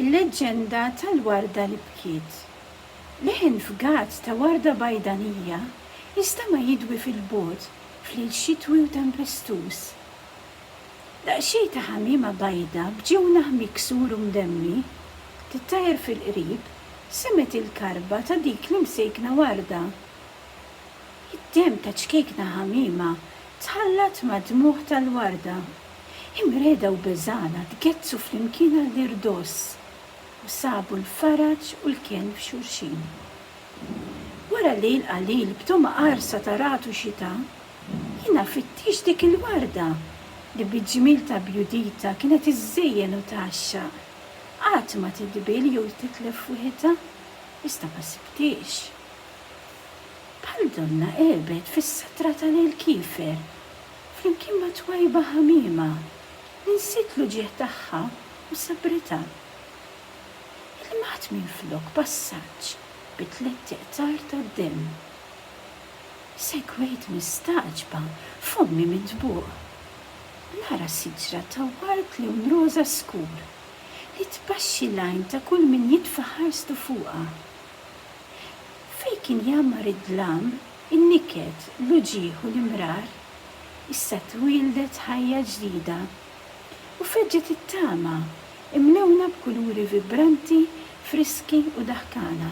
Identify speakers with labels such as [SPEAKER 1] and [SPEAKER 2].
[SPEAKER 1] Il-leġġenda tal-warda li bkiet. Leħen fgat ta' warda bajdanija jistema' jidwi fil-bogħod f'lejl xitwi u tempestuż. Daqsxejn ta' ħamiema bajda b'ġewnaħ miksur u mdemmi tittajjar fil-qrib semgħet il-karba ta' dik l-imsejkna warda. Id-demm ta' ċkejkna ħamiema tħallat mad-dmugħ tal-warda. Imreda u beżgħana tgezzu flimkien għall-irdoss u sabu l-faraġ u l-kenn f'xulxin. Wara lejl qalil b'togħma qarsa ta' ragħad u xita, jiena fittixt dik il-warda li bil-ġmiel ta' bjuditha kienet iżżejjen u tgħaxxaq. Qatt ma tidbiel jew titlef f'wiħitha, iżda ma sibthiex. Bħal donnha għebet fis-satra ta' lejl kiefer. Flimkien ma' twajba ħamiema, li nsiet l-uġigħ tagħha u sabritha. Ilmgħat minflok passaġġ bi tlett iqtar tad-demm. Segwejt mistagħġba f'ommi mintbuq u nara siġra ta' ward lewn roża skur li tbaxxi l-għajn ta' kull min jitfa' ħarstu fuqha. Fejn kien jgħammar id-dlam, in-niket, l-uġigħ u l-imrar, issa twieldet ħajja ġdida. U feġġet it-tama, imlewna b'kuluri vibranti, friski u daħkana.